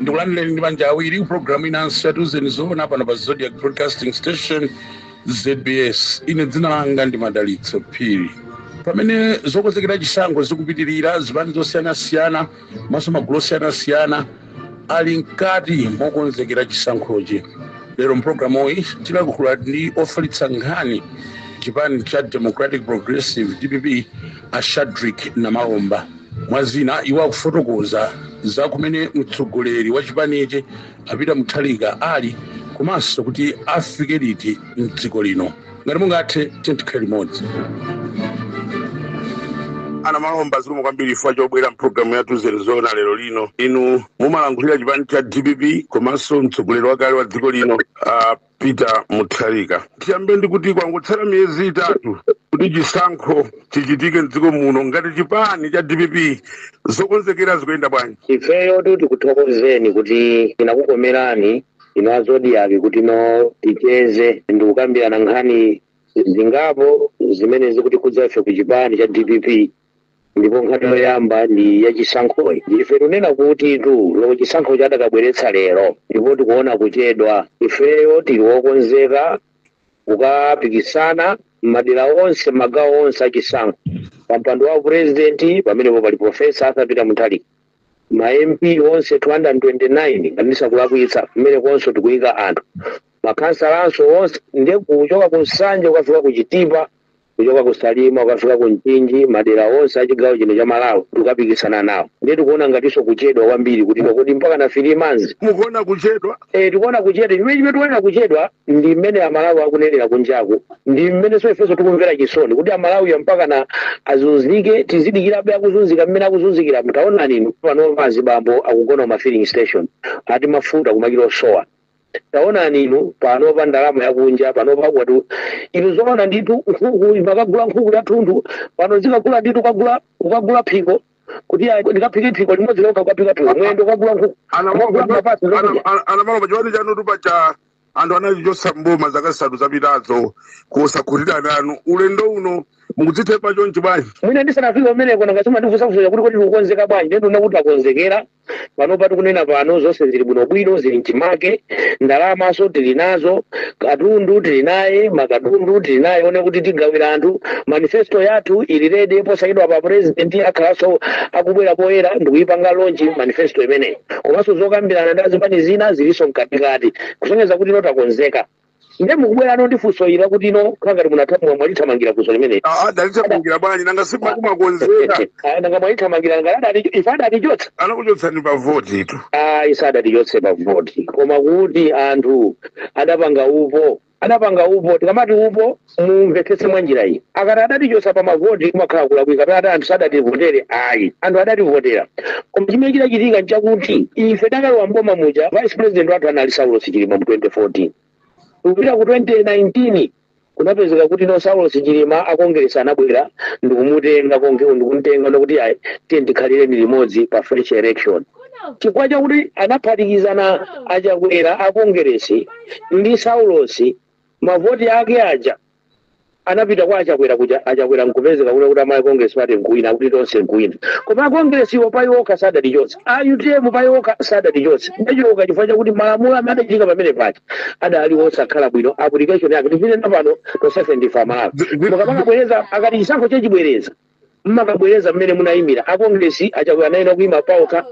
ndikulandireni ndi manja awiri ku programu inanso ya tiuzeni zoona pano pa zodiac broadcasting station zbs ine dzina langa ndi madalitso phiri pamene zokonzekera chisankho zikupitirira zipani zosiyanasiyana komanso magulu osiyanasiyana ali mkati mokonzekera chisankhochi lero mpulogalamu iyi tilankhula ndi ofalitsa nkhani chipani cha democratic progressive dpp a shadrick namalomba Mwa zina, iwo akufotokoza za kumene mtsogoleri wa chipanichi a Peter Mutharika ali komanso kuti afike liti m'dziko lino. Ngati mungathe, tiyeni tikhale limodzi. a Namalomba zikomo kwambiri chifukwa chobwera mpulogalamu ya tiuzeni zoona lero lino inu mumalankhulira chipani cha dpp komanso mtsogoleri wakale wa dziko lino uh, Peter Mutharika. Tiyambe ndi kuti kwangotsala miyezi itatu kuti chisankho chichitike mdziko muno ngati chipani cha dpp zokonzekera zikuyenda bwanji ifeyotu tikuthokozeni kuti inakukomerani inu a zodiac kuti no ticheze ndi kukambirana nkhani zingapo zimene zikutikhudza ife ku chipani cha dpp Ndipo nkhani yoyamba ndi ya chisankhoyi. Ife tikunena kutitu loko chisankhochi akadabweretsa lero ndipo tikuona kuchedwa. Ifeyo tili okonzeka kukapikisana m'madera onse, m'magawo onse a chisankho. Pa mpando wa President pamenepo pali Professor Arthur Peter Mutharika. Ma MP onse 229 ngati ndisakulakwitsa kumenekonso tikuyika anthu. Makhansalanso onse nde kuchoka ku Nsanje kukafika ku Chitipa. kuchoka ku Salima ukafika ku Mchinji madera onse a chigawo chino cha Malawi tikukapikisana nawo ndiye tikuona ngatinso kuchedwa kwambiri kuti kodi mpaka na three months mukuona kuchedwa Eh, tikuona kuchedwa chimene chimene tikuonera kuchedwa ndi mmene amalawi akunenera kunjaku ndi mmenenso ifenso tikumvera chisoni kuti amalawi mpaka na azunzike tizidikirabe akuzunzika mmene akuzunzikira mutaonani inu panopa azibambo akugona ku mafilling station ati mafuta kumakhala kosowa Taonani, inu panopa ndalama yakunja panopa kwathu inu zoona ndithu nkhuku imakagula nkhuku yathunthu pano zikagula ndithu kagula kukagula phiko kuti ayi, ndikaphike phiko limodzi lokha kukaphika phiko mwendo kukagula nkhuku kukagula mapazi ndikudya a namalomba chipani chanutu paja anthu anachichotsa mboma zaka zisanu zapitazo kusakhutira nanu ulendo uno mukudzithemba chonchi bwanji mwina ndisanafike umeneko mwangomaliza kundifunsa kuti kodi tikukonzeka bwanji ndetu nakuti takonzekera panopa tikunena pano zonse zili bwinobwino zili mchimake ndalamanso tili nazo katundu tili naye makatundu tili naye one kuti tigawira anthu manifesto yathu ili ready posachedwapa president akhalanso akubwera poyera ndikuyipanga launch manifesto imeneyi komanso zokambirana ndi azipani zina zilinso mkatikati kusonyeza kuti ife takonzeka Ndiye mukubwera ndi funso ili kuti ino ikukhala ngati munathamwa mwalithamangira funso limeneli. Ah, ah, talithamangira bwanji nanga si makumakonzeka Ah, Nanga mwalithamangira nanga adati ife adatichotsa. anakuchotsani pa voti tu Ah, ii sadatichotse pa voti. Koma kuti anthu adapanga upo. Adapanga upo. Tikamati upo mumvetsetse mwanjira iyi mukati adatichotsa pa mavoti kumakhala kulakwika kapena kuti anthu sadativotere ayi anthu adativotera koma chimene chidachitika nchakuti ife takalowa mboma muja vice president wathu anali saulos chilima mu 2014 kupita ku 2019 kunapezeka kuti no saulos chilima akongeresi anabwera ndikumutenga konke ndikumtenga nkuti ayi tiye tikhalire limodzi pa fresh election chifukwa chakuti anaphatikizana achakwera akongeresi ndi saulosi mavoti ake aja anapita kwa achakwera kuja achakwera nkupezeka kuti kuti malawi congress party nkuwina akuti tonse nkuwina koma a congress iwo pa iwo okha sadatichotse a utm pa iwo okha sadatichotse tidachoka chifukwa chakuti malamulo amene adachitika pamene paja adali osakhala bwino application yake tizinena pano tonsefe ndife amalawi Zi- zi- mukamabwereza akati chisankho chachibwereza mmakabwereza mmene munayimira a Congress achakwera anayenera kuyima paokha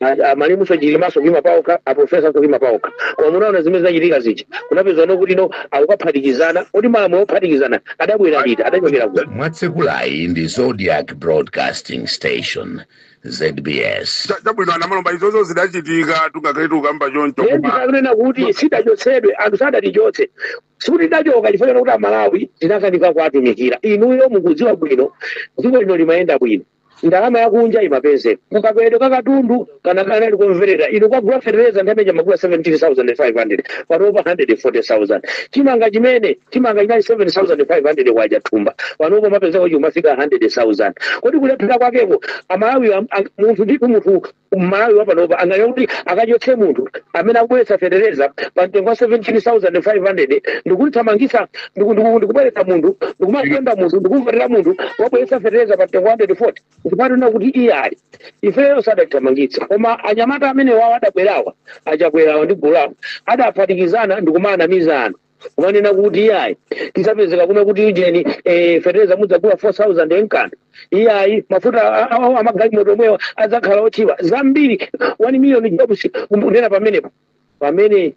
a- a malemu chilimanso kuyima paokha a professor kuyima paokha koma munaona zimene zinachitika zija kunapezekano kuti no akukaphatikizana kuti malamulo ophatikizana adabwera liti adachokera kuti mwatsekulayi ndi zodiak broadcasting station zbs Cha- chabwino a namalomba izozo zidachitika tungakhale tikukamba choncho koma kunena kuti sitidachotsedwe anthu sadatichotse sikuti tidachoka chifukwa chakuti amalawi tinakanika kuwatumikira inuyo mukudziwa bwino dziko lino limayenda bwino ndalama yakunja imapezeka kukwera kakatundu kana kana ali komverera inu kwagula fertilizer amene mmagula 17500 panopa 140000 chimanga chimene chimanga chinali 7500 kwaja thumba panopa mmapezeka kuti chimafika 100000 kodi kulephera kwakeko amalawi am- am- munthu ndithu munthu mmalawi wapanopa anganena kuti akachotse munthu amene akubweretsa fetereza pa mtengo wa 17500 ndikuthamangitsa ndikubweretsa munthu ndikumatenga munthu ndikumvotera munthu wabweretsa fetereza pa mtengo wa 140 ndikumanena kuti iyayi ifeyo sadatithamangitsa koma anyamata amene awa adabwerawa achakwerawa ndi gulu lawo adaphatikizana ndikumaanamiza anthu kumanena kuti iyayi tikapezeka kuno kuti ujeni eh, fetereza mudzagula 4000 nkuti iyayi mafuta a- a- a- amagalimoto omwewa adzakhala otchipa zambiri 1 million jobs kunena pamenepo pamene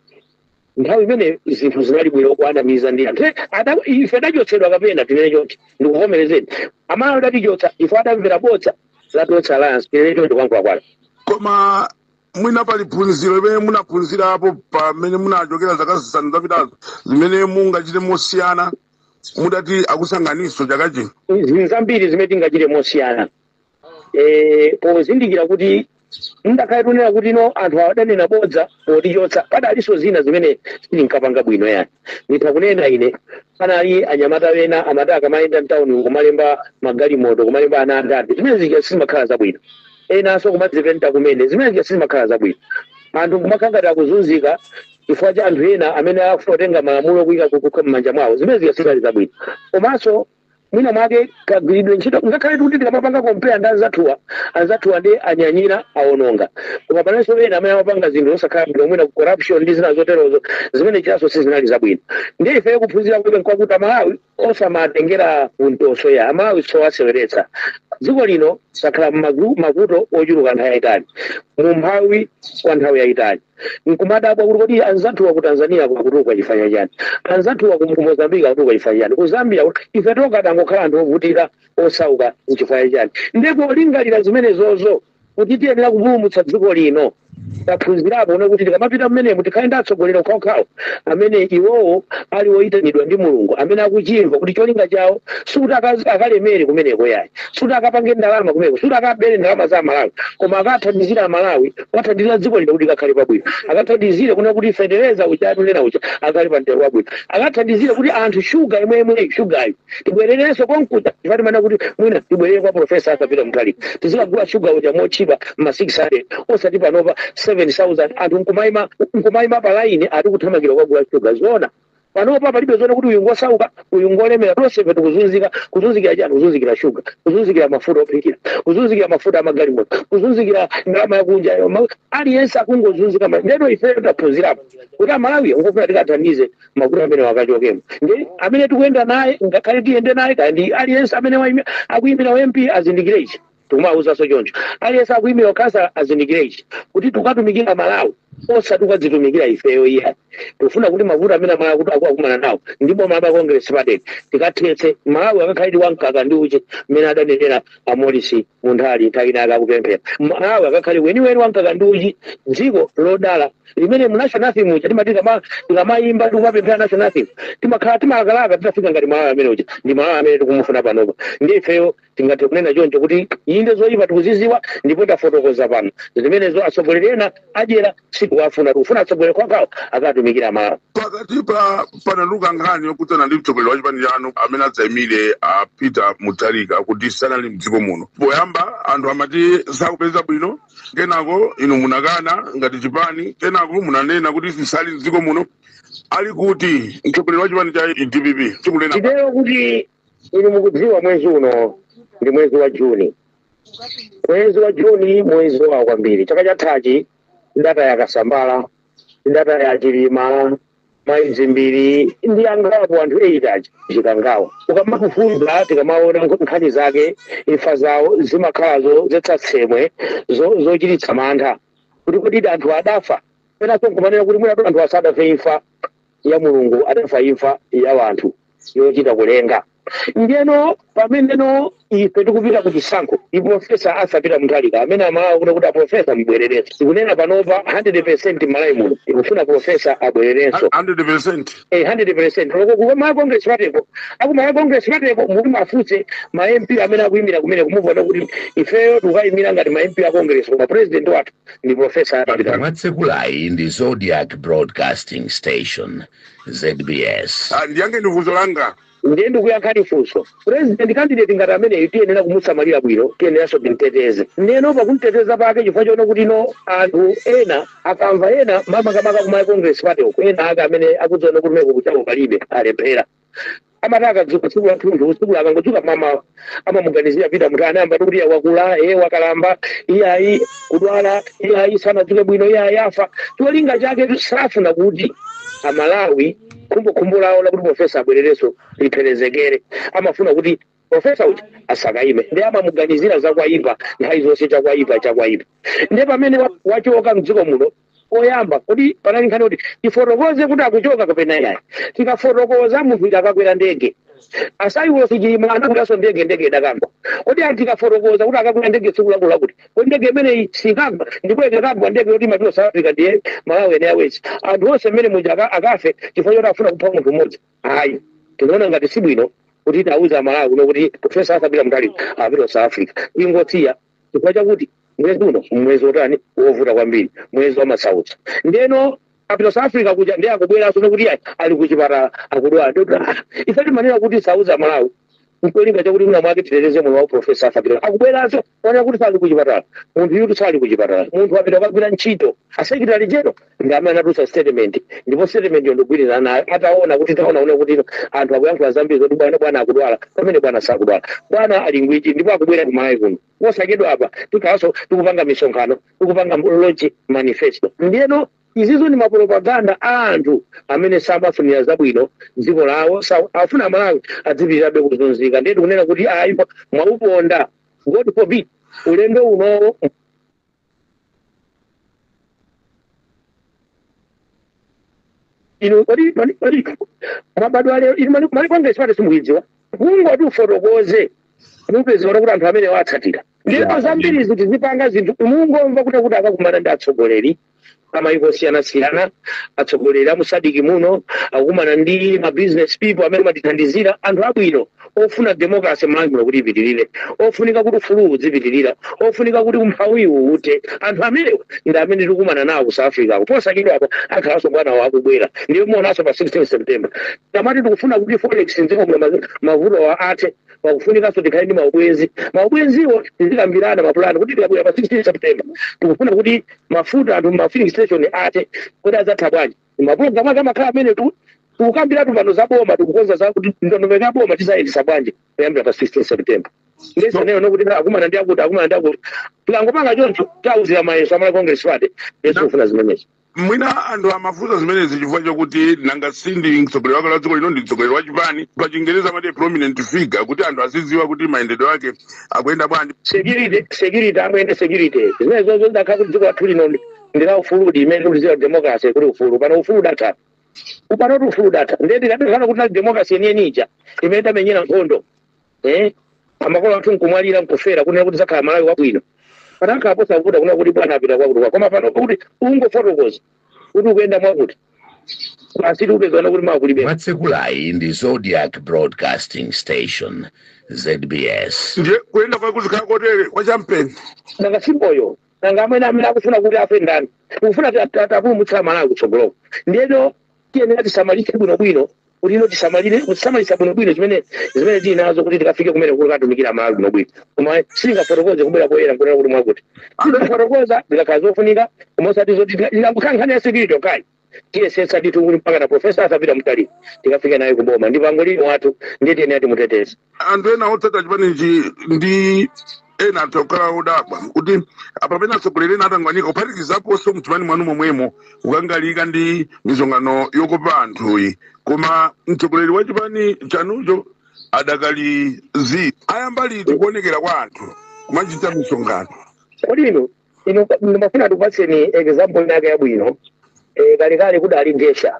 nthawi imene zinthu zinali bwino kuanamiza ndi anthu Eh, ada- ife tidachotsedwa kapena tinene chonchi ndikuvomerezeni amalawi adatichotsa ife adamvera bodza la tonse alliance tinene choncho kwankulakwana koma mwina pali phunziro limene munaphunzirapo pamene munachokera zaka zisanu zapitazo zimene mungachite mosiyana mudati akusankhaninso chaka chino zinthu zambiri zimene tingachite mosiyana Eh, pozindikira kuti ngakhale tikunena kuti no anthu adanena bodza potichotsa panalinso zina zimene sitinkapanga bwino yani nditha kunena panali anyamata ena amati akamayenda mtauni kumalemba magalimoto kumalemba ana a dadi zimene zija sizimakhala zabwino enanso kumadzipenta kumene zimene zija sizimakhala zabwino anthu nkumakhala ngati akuzunzika chifukwa cha anthu ena amene akufuna kutenga malamulo kuyika m'manja mwawo zimene zija sizali zabwino komanso mwina mwake kagwiridwe ntchito ngakhale kuti tikamapanga kompeya ndi anzathuwa anzathuwa nde anyanyira awononga koma panalinso ena amene amapanga zinthu zosakhala bwino mwina corruption ndi zina zoterozo zimene zijanso sizinali zabwino ndiye ifeyo kuphunzira kwake nkwakuti amalawi osamatengera kumtoso ayi amalawi sowaseweretsa dziko lino lakhala m'mavuto ochuluka nthawi yayitali mu umphawi kwa nthawi yayitali nkumadabwa kuti kodi anzathuwa ku tanzania akutukuka chifukwa cha chani anzathuwa ku ku mozambique akutukuka chifukwa cha chani ku zambia ife tokha tangokhala anthu ovutika osauka nchifukwa cha chani nde polingalira zimenezozo kuti tiyenera kupulumutsa dziko lino taphunzirapo kuona kuti tikamapita mmenemo tikhale ndi atsogoleri okhaokhawo amene iwowo ali oyitanidwa ndi mulungu amene akuchimva kuti cholinga chawo sikuti akazi- akalemere kumeneko yayi sikuti akapange ndalama kumeneko sikuti akabere ndalama za amalawi koma akathandizire amalawi akathandizire dziko lino kuti likakhale pabwino akathandizire kuona kuti fetereza uja tikunena uja akhale pa mtengo wabwino akathandizire kuti anthu shuga yemweyo shugayo tibwererenso konkuja timati mwina kuti mwina tibwerere kwa profesa Mutharika tizikagula shuga uja motchipa ma 600 osati panopa 7000 anthu nkumaima nkumaima pa laini ati kuthamangira kukagula shuga zoona panopa palibe zonena kuti uyu ngosauka uyu ngolemera tonsefe tikuzunzika kuzunzikira chani kuzunzikira shuga kuzunzikira mafuta ophikira kuzunzikira mafuta amagalimoto kuzunzikira ndalama yakunja aliyense akungozunzika ma- ndeno ifeyo taphunzirapo kuti amalawi ngofunika tikathandize mavuto amene akachokemo ndi amene tikuyenda naye amene tikakhale tiyende naye kaya ndi aliyense amene waimi- akuimira u mp azindikire ichi tikumawuzanso choncho aliyense akuimira ukhansala azindikire ichi kuti tikukatumikira malawi osati tikadzitumikire ifeyo iyayi tikufuna kuti mavuto amene amalawi akukumana nawo ndi boma la congress party tikawathetse malawi akakhaledi wamkaka ndi uchi mmene adanenera a Morris Munthali nthawi ina yake akupemphera Malawi akakhale weniweni wa mkaka ndi uchi dziko lodala limene mu national anthem muja timati tikama- tikamayimba tikumapemphera national anthem timakhala tikulakalaka titafika ngati Malawi amene uja ndi Malawi amene tikumufuna panopa nde ifeyo tingathe kunena choncho kuti inde zoyipa tikuzidziwa ndipo tafotokoza pano zimenezo atsogoleri ena adyera sikuwafuna tikufuna atsogoleri kwawo akatumikira amalawi pakati pa panabuka nkhani yokhudzana ndi mtsogoleri wa chipani chanu amene adzaimire a peter mutharika kuti sanali mdziko muno poyamba anthu amati sakupeza bwino kenako inu munakana ngati chipani kenako munanena kuti sisali mdziko muno ali kuti mtsogoleri wa chipani cha dpp chikunena titero kuti inu mukudziwa mwezi uno ndi mwezi wa juni Mwezi wa Juni mwezi wowawa kwambiri. Chaka chathachi tidataya Kasambala, tidataya Chilima, Mayi Dzimbiri ndi angapo anthu 8 aja Chikangawa. Ukamafufuza tikamaona nk- nkhani zake imfa zawo zimakhala zodzetsa tsembwe zo- zochititsa mantha kuti kodi anthu adafa penanso nkumanena kuti mwinatu anthu asadafe imfa ya mulungu adafa imfa ya wanthu yochita kulenga ndeno pameneno ife tikupita ku chisankho i profesa arthur peter mutharika amene amalawi kuno kuti aprofesa mubwererenso tikunena panopa 100 percent malawi muno ikufuna profesa abwererenso 100% Eh, 100% loko ku malawi congress party ko aku malawi congress party ko muli muwafunse ma mp amene akuyimira kumeneko muwona kuti ifeyo tikuyimira ngati ma mp a congress koma president wathu ndi profesa peter mwatsekulayi ndi Zodiac Broadcasting Station, ZBS. Ah, ndiyankheni funso langa ndiye ndikuyankhani funso president candidate ngati ameneyu tiyenera kumusamalira bwino tiyeneranso timteteze ndiyeno pakumteteza pake chifukwa choona kuti no anthu ena akamva ena makamaka ku malawi congress party uko ena ake amene akudziona kuti mmeko kwachako palibe alephera amati akadzuka tsiku lathunthu tsiku akangodzuka mamawa amamuganizira peter mutharika ayamba kuti iya wakula ee wakalamba iyayi kudwala iyayi sanadzuke bwino iyayi afa cholinga chake safuna kuti amalawi khumbokhumbo lawo lakuti profesa abwererenso lipherezeke amafuna kuti profesa uja asakaime ndiye amamuganizira zakwayipa nthawi zonse chakwayipa chakwayipa ndiye pamene wa- wachoka mdziko muno koyamba kodi panali nkhani kuti tifotokoze kuti akuchoka kapena yayi tikafotokoza munthu ita akakwera ndege a saulos chilima anakweranso ndege ndege idakagwa kodi anthu tikafotokoza kuti akakwera ndege tsiku lakuti lakuti kodi ndege imeneyi sikagwa ndipo ikakagwa ndege yoti imapita south africa ndiye malawi airways anthu onse mmene muja aka- akafe chifukwa choti afuna kupha munthu mmodzi ayi tinaona ngati si bwino kuti tiwauze amalawi kuno kuti profesa arthur peter mutharika apita south africa tingosiya chifukwa chakuti mwezi uno mwezi wotani wovuta kwambiri mwezi wa masautso ndeno apita south africa kuja ndiye akubweranso nekuti ayi ali kuchipatala akudwala ndikuti ah, ife timanena kuti sitiuza amalawi nkolinga chakuti mwina mwake titeteze moyo wa profesa arthur peter akubweranso onena kuti sali kuchipatala munthu uja sali kuchipatala munthu apita kukagwira ntchito a secretary general ndi amene anatulutsa statement ndipo statement yo ndikugwirizana nayo ataona kuti taona kuti anthu akuyankhula zambiri zoti bwana bwana akudwala pamene bwana sakudwala bwana ali ngwiro ndipo akubwera ku malawi kuno posachedwapa tikhalanso tikupanga misonkhano tikupanga launch manifesto ndiyeno izizo ndi mapropaganda a anthu amene samafunira zabwino dziko lawo sa- afuna amalawi adzipitirabe kuzunzika ndiye tikunena kuti ayi mwauponda god forbid ulendo unowo inu kodi mani- kodi mwabadwa lero inu mani- malawi congress party simuidziwa kungoti ufotokoze mupezeka kuti anthu amene watsatira ndipo Yeah. zambiri ife tizipanga zinthu mungomva kuti kuti akakumana ndi atsogoleri amaiko osiyanasiyana atsogoleri a mu sadc muno akukumana ndi ma business people amene amatithandizira anthu abwino ofuna democracy malawi muno kuti ipitirire ofunika kuti ufulu uzipitirira ofunika kuti umphawiwu uthe anthu amenewo ndi amene tikukumana nawo ku south africako posachedwapa akhalanso bwanawo akubwera ndipo muonanso pa 16 september tamati tikufuna kuti forex mdziko muno ma- mavutowa athe pakufunikanso tikhale ndi maubwenzi maubwenziwo tizikambirana mapulani kuti tikabwera pa 16 september tikufuna kuti mafuta anthu ma filling station athe kodi adzatha bwanji mapulogalamu ake amakhala amenewa tikukambiratu pano za boma tikukonza za kuti ndondomeko ya boma tidzayendetsa bwanji kuyambira pa 16 september ndiye zonena zokuti akumana ndi akuti akumana ndi akuti tikangopanga choncho tauzira mayeso a malawi congress party yes akufuna zimenezo mwina anthu amafunsa zimenezi chifukwa chakuti nanga si ndi mtsogoleri wakale wa dziko lino ndi mtsogoleri wa chipani pa chingereza amati prominent figure kuti anthu azidziwa kuti mayendedwe ake akuyenda bwanji security security amwene security zimenezozo ndakakhala kuti dziko lathu lino ndi la ufuludi mmene tikulidziwa democracy kuti ufulu pano ufulu udatha pano ufulu udatha ndiye tikadakhala kuti tinali democracy yeniyeni ija imene tidamenyera nkhondo eh makolo athu nkumwalira nkufera kunena kuti tidzakhale malawi wabwino panakakhala posavuta kunena kuti bwana apita kwakuti kwa koma pano kuti ungofotokoza kuti ukuyenda mwakuti basi tiupezana kuti mwakulibe mwatsekulayi ndi zodiac broadcasting station zbs ndiye kuyenda kwake kuzikhala kotere kwa chinsinsi nanga si moyo nanga amene amene akufuna kuti afe ndani tikufuna tikapulumutse malawi kutsogoloko ndiyeno tiyenera tisamalitse bwinobwino kuti ife tisamalire kusamalitsa bwinobwino zimene zimene tili nazo kuti tikafike kumene tikatumikire malawi bwinobwino koma sitingafotokoze kubwera poyera nkunena kuti mwakuti tifotokoza zikakhala zofunika koma osati zoti ikakhala nkhani ya security okayi tiyesetsa ndithu kuti mpaka na profesa arthur peter mutharika tikafike naye kuboma ndi pangolin wathu ndiye tiyenera timuteteze anthu ena otsatira chipanichi ndi ena atha kukhala odabwa kuti pamene atsogoleri ena atangwanika kuphatikizaponso mchipani mwanu momwemo kukangalika ndi misonkhano yokopa anthuyi koma mtsogoleri wa chipani chanucho adakali zi ayamba liti kuonekera kwa anthu kumachita misonkhano kodi ino ino ndimafuna ndikupatseni example yake yabwino eh, kalekale kudali ngesha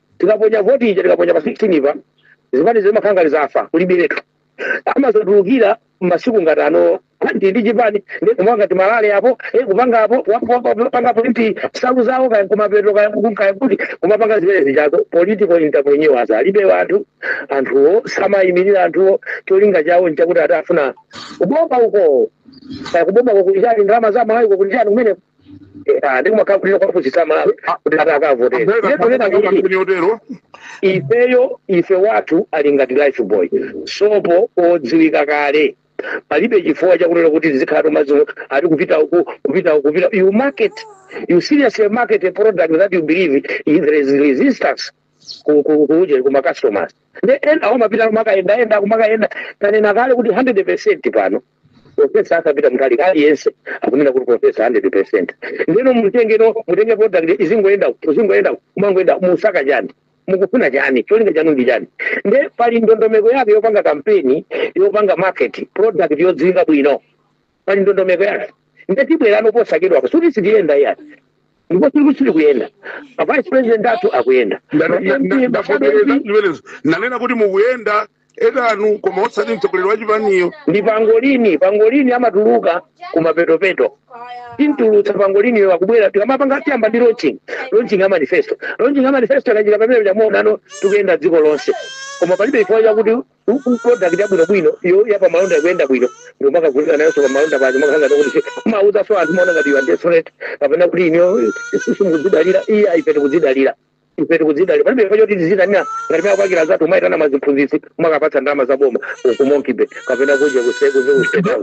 Tikaponya voti ija tikaponya pa 16 pa zipani zimakhala ngati zafa kulibiretu amadzatulukira masiku ngati ano ndi ndi chipani ndi kumapanga timarally apo eh, kupanga apo wapo- wapo- wapanga politi salu zawo kaya kumapeto kaya kuku- kaya kuti kumapanga zimene zijazo political entrepreneurs alibe anthu anthuwo samayimirira anthuwo cholinga chawo nchakuti ati afuna kubomba uko kaya kubomba kukulichani ndalama za amalawi kukulichani kumene Ah, ndi kumakhala kuti kuwapusitsa amalawi kuti ati akavotere Amveka iye tunena kuti kampani yotero ifeyo ife wathu ali ngati lifebuoy sopo odziwika kale palibe chifukwa chakunena kuti tizikhala tomazo ati kupita uku kupita uku kupita you market you seriously market a product that you believe is there is resistance ku- ku- kuuje kuma customers ndeno umapita kumakayendaenda kumakaenda tanena kale kuti 100 percent pano profesa arthur peter mutharika aliyense akunena kuti profesa 100% ndeno mutengeno mutenge product izingoyenda uku, izingoyenda uku, umangoyenda musaka chani mukufuna chani cholinga chanu ndi chani nde pali ndondomeko yake yopanga kampeni yopanga market product yodziwika bwino pali ndondomeko yake nde tibwerano posachedwa apa sikuti sitiyenda iyayi ndipo tiri ku- tiri kuyenda vice president athu akuyenda Nda- nda- nda- ndavomereza zimenezo nanena kuti mukuyenda enanu koma osati mtsogoleri wa chipaniyo ndi pangolini pangolini amatuluka kumapetopeto timutulutsa pangoliniyo akubwera tikamapanga tiyamba ndi launching launching ya manifesto launching ya manifesto akachita pamene chamuonano tikuyenda dziko lonse koma palibe chifukwa chakuti u- u- product yabwinobwino yo ya pamalonda ikuyenda bwino ndomakagulika nayonso pamalonda pacho makangati kuti mauzaso anthu maona ngati you are desperate kapena kuti inuyo simukudzidalira iyayi ife tikudzidalira ife tikudzidalira palibe chifukwa choti tizitanira ngati mwa kwakira anzathu kumayitana maziphunzitsi kumakawapatsa ndalama za boma ku monkey bay kapena kudya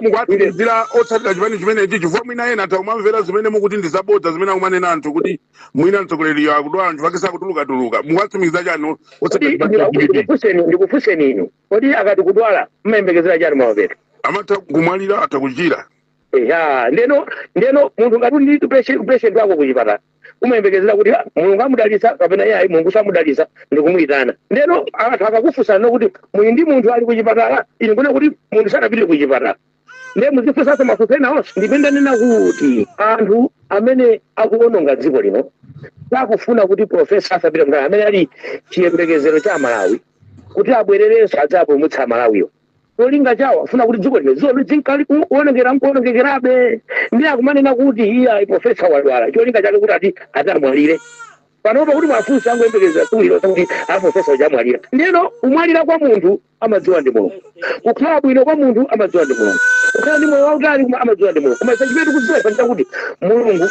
mukuwatsimikizira otsatira chipani chimenechi chifukwa mwina ena atha kumamvera zimene mukuti ndi zabodza zimene akumanena anthu kuti mwina mtsogoleriyo akudwala anthu ake sakutulukatuluka mukuwatsimikiza chani otsatira chipani cha dpp ndikufunseni ndikufunseni inu kodi akati kudwala mmayembekezera chani mapeto amatha kumwalira atha kuchira eya ndeno ndeno munthu ngati uli ndi patient patient wako kuchipatala umayembekezera kuti "Ah, mulungu amudalitsa kapena iyayi mulungu samudalitsa ndikumuyitana ndeno anthu akakufunsana kuti muli ndi munthu ali kuchipatala ine ndikunena kuti munthu sanapite kuchipatala ndiye muzifunsanso mafunso ena onse ndipo ndanena kuti anthu amene akuononga dziko lino sakufuna kuti profesa arthur peter mutharika amene ali chiyembekezero cha amalawi kuti abwererenso adzapulumutse amalawiwo cholinga chawo afuna kuti dziko lino dziko lizinka likuonongekera nkuonongekerabe ndiye akumanena kuti iye ayi profesa wadwala cholinga chake kuti ati ati amwalire panopa kuti mwina akungoyembekezera tsiku lilonse kuti a profesa uja amwalira ndiyeno kumwalira kwa munthu amadziwa ndi mulungu kukhala bwino kwa munthu amadziwa ndi mulungu kukhala ndi moyo wautali koma amadziwa ndi mulungu koma ife chimene tikudziwa ife nchakuti mulungu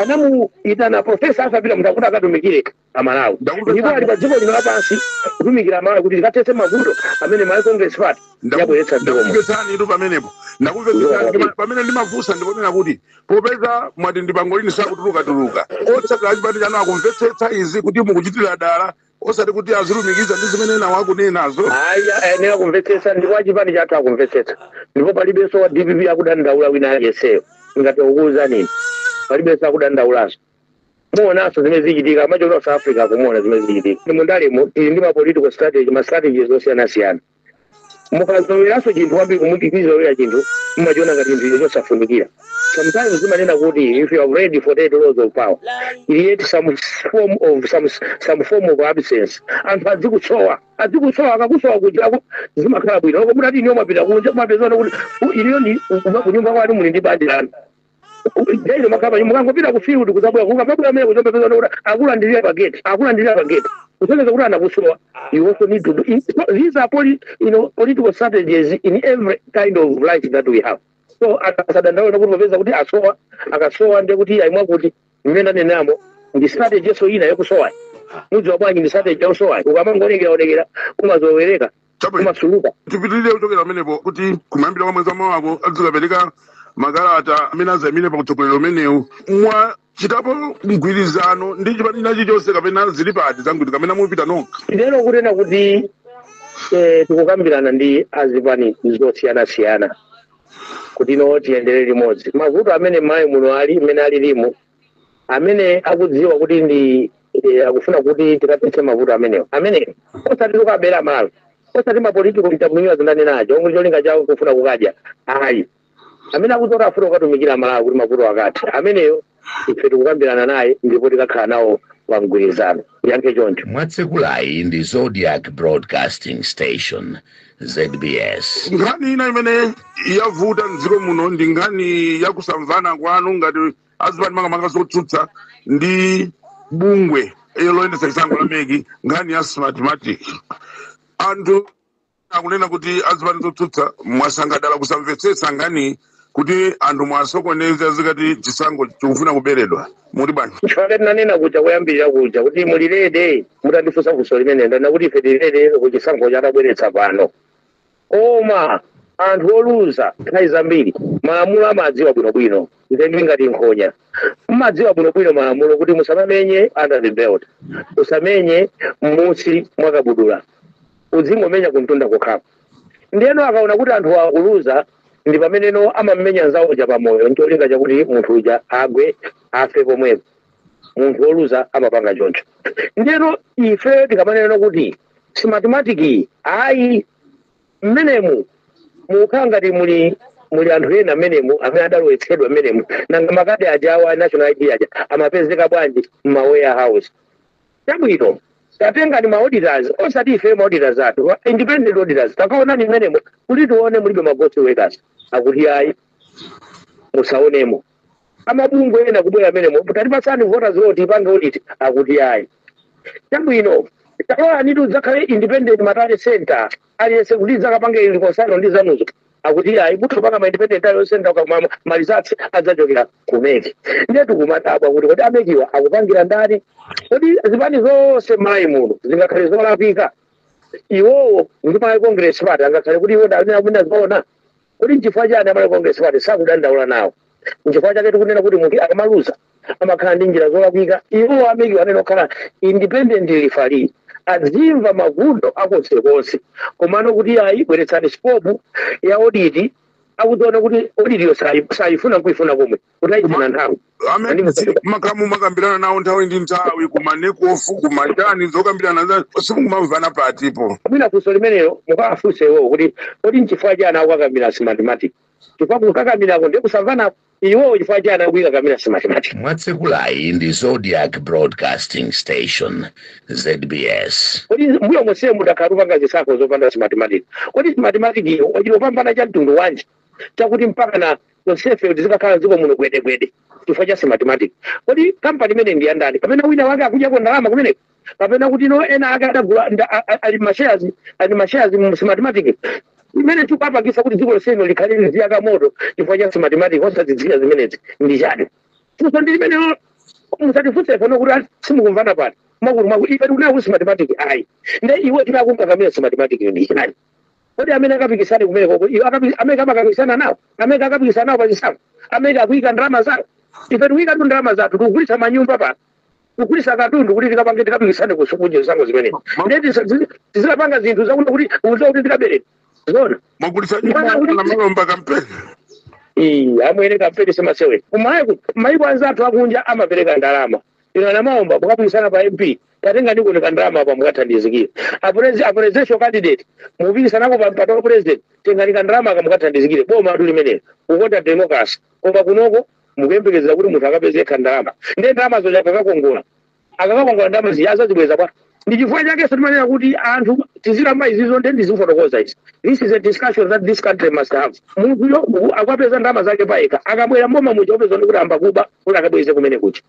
anamuyitana profesa asa pita mutharika kuti akatumikire amalawi ndipo ali pa dziko lino lapansi kutumikira amalawi kuti tikathetse mavuto amene malawi congress party yabweretsa mdziko muno ndakumvetsani ndithu pamenepo ndakumvetsani Ndima- pamene ndimafunsa ndikunena kuti popeza mwati ndi pangolini sakutulukatuluka otsatira achipani chanu akumvetsetsa izi kuti mukuchitira dala osati kuti azilumikiza ndi zimene enawa akunenazo ayi ayenera kumvetsetsa ndipo achipani chathu akumvetsetsa ndipo palibenso wa dpp akudandaula wina aliyenseyo ngati akuwuzani palibenso akudandaulazo muonanso zimene zichitika ku south africa ukumaona zimene zichitika mu ndalemo tili ndi ma political strategy ma strategies osiyanasiyana mukazoloweranso chinthu kwambiri mukachizolowera chinthu mumachiona ngati chinthu chosafunikira sometimes timanena kuti if you have read 48 laws of power create some form of some, some form of absence anthu adzikusowa adzikusowa akakusowa kuja aku- zimakhala bwino olo mutati inuyo mwapita kunja kumapezana kuti "U- inuyo ndi kunyumba kwanu muli ndi banja lanu Daily mumakhala panyumba mukangopita ku field kudzabwera mukamabwera m'mene mudzapeza kuti akulandirira pa gate akulandirira pa gate kusonyeza kuti anakusowa you also need to do it. So these are poli, you know, political strategies in every kind of life that we have so asadandaule kuti popeza kuti asowa akasowa ndiye kuti ayi mwakuti mmene ndanenamo ndi strategy nso ina yokusowayo mudziwa bwanji ndi strategy yosowayo ukamangoonekera onekera umazolowereka Chabwino. umasukuluka tipitirire kuchokera pamenepo kuti kumayambiriro kwa mwezi wa mawako adzikapereka makalata amene azayimire pa utsogoleri umenewu mwachitapo mgwirizano ndi chipani china chilichonse kapena zili pati za mgwirizano kapena mupita nokha ndeno kunena kuti eh, tikukambirana ndi azipani zosiyanasiyana kuti no tiyendere limodzi mavuto amene mmalawi muno mmene alilimu amene akudziwa kuti ndi eh, akufuna kuti tikathetse mavuto amenewo amenewo osati tikabere amalawi osati ma political chameleons ndinanena aja omwe cholinga chawo kufuna kukadya ayi amene akuti afuna kukatumikira amalawi kuti mavuto akathe ameneyo ife tikukambirana naye ndipo tikakhala nawo pa mgwirizano ndiyankhe choncho mwatsekulayi ndi zodiac broadcasting station zbs nkhani ina imene yavuta mdziko muno ndi nkhani ya kusamvana kwanu ngati azipani makamaka zotsutsa ndi bungwe loyendetsa chisankho la meki nkhani ya smartmatic anthu akunena kuti azipani zotsutsa mwasankha dala kusamvetsetsa nkhani kuti anthu mwasokoneza zizikhala ngati chisankho chikufuna kuberedwa muli bwanji chifukwa tinanena kuja kuyambirira kuja kuti muli ready mutandifunsa funso limeneli ndinati kuti ife tili ready kuchisankho chatabweretsa pano koma anthu oluza nthawi zambiri malamulo amadziwa bwinobwino ndiye ndi ngati nkhonya mumadziwa bwinobwino malamulo kuti musamamenye under the belt musamenye m'munsi mwakabudula Udzingomenya kumtunda kokhako. Ndiyeno akaona kuti anthu akuluza, ndi pameneno amammenya mnzawo uja pamoyo n'cholinga chakuti munthu uja agwe, afe pomwepo. Munthu woluza amapanga choncho. Ndiyeno ife tikamanenano kuti Smartmatic ayi. Mmenemu mukukhala ngati muli muli anthu ena mmenemu amene adalowetsedwa mmenemu. Nanga makadi ajawa a National ID aja amapezeka bwanji m'ma warehouse? Chabwino, tatengani ma auditors, osati ifeyo ma auditors athu, ma independent auditors, takaonani mmenemo kuliti tione mulibe ma ghost workers. Akuti ayi, musaonemo. Amabungwe ena kubwera mmenemo, tatipatsani voters roll tiipange audit. Akuti ayi. Chabwino, talolanitu tidzakhale independent ma tally center aliyense kuti tidzakapange reconcile ndi zanuzo. akuti ayi mutha kupanga ma independent tally centre koma ma results adzachokera ku MEC ndiye tikumadabwa kuti kodi a MEC-wa akupangira ndani kodi zipani zonse m'Malawi muno zingakhale zolakwika iwowo ndi Malawi congress party angakhale kuti iwo ndi amene azoona kodi nchifukwa chani a Malawi congress party sakudandaula nawo nchifukwa chake tikunena kuti munthu akamaluza amakhala ndi njira zolakwika iwo a MEC-wa amene okhala independent referee azimva maganizo akonsekonse komano kuti ayi bweretsani scope ya audit ukudziwa kuti audit-yo sayi- sayifuna kuifuna komwe kuti ayifuna nthawi amene mumakhala mumakambirana nawo nthawi ndi nthawi ku NECOF kumachani zokambiranazo simukumamvana patipo mwina funso limenelo mukawafunse iwowo kuti kodi nchifukwa chani akukakamira Smartmatic chifukwa kukakamirako ndiye kusamvanako iwowo chifukwa chani akuikakamira Smartmatic mwatsekulayi ndi zodiac broadcasting station zbs kodi mbuyo monseye munkakhala mukupanga zisankho zopanda Smartmatic kodi Smartmatic-yo ili ndi chipambano cha mtundu wanji chakuti mpakana tonsefe kuti tizikhala dziko muno gwedegwede chifukwa cha Smartmatic kodi kampani imeneyi ndi yandani kapena wina wake akudyako ndalama kumeneko kapena kuti anthu ena ake adagula nda- a- a- ali mashares ali mashares mu smartmatic imene ikupangitsa kuti dziko lonseli likhale liziyaka moto chifukwa cha smartmatic osazidziwira zimenezi ndi chani funso ndi limenelo musatifunse pano kuti ati simukumvana pano pakuti ife tikunena kuti smartmatic ayi nde iwo akungokakamira smartmatic ndi chani kodi amene akapikisane kumeneko iwo akapi- amene amakapikisana nawo amene akapikisana nawo pachisankho amene akuika ndalama zawo ife tikuikatu ndalama zathu tikugulitsa manyumba pa kugulisa katundu kuti tikapange tikapikisane kuchisankho zinthu zimenezi ndiye tizikapanga zinthu zakuti kuti udziwa kuti tikabereka zona mwagulisa nyumba a Namalomba kampeni Ii, amwene kampeni simasewera kumaiko maiko anzathu akunja amapereka ndalama inu a Namalomba mukapikisana pa mp tatengani kandalama apa mukathandizikira Apresi- a presidential candidate mupikisanako pa mpata wa president tengani kandalama aka mukathandizikire bomatu limenelo kukonda democracy koma kunoko mukuyembekezera kuti munthu akapeze yekha ndalama ndiye ndalama zoti akakakongola akakakongola ndalama zija azazibweza bwanji chifukwa chakenso timanena kuti anthu tizikamba izizo nde ndizifotokoza izi this is a discussion that this country must have munthuyo akapeza ndalama zake payekha akabwera mboma muja mupeza kuti ayamba kuba kuti akabweze kumene kuja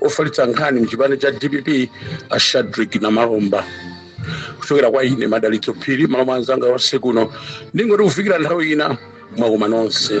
ofalitsa nkhani mchipani cha dpp a shadric namalomba kuchokera kwa ine madalitso phiri mmalo mwa anzanga onse kuno ndingoti kufikira nthawi ina mwakoma nonse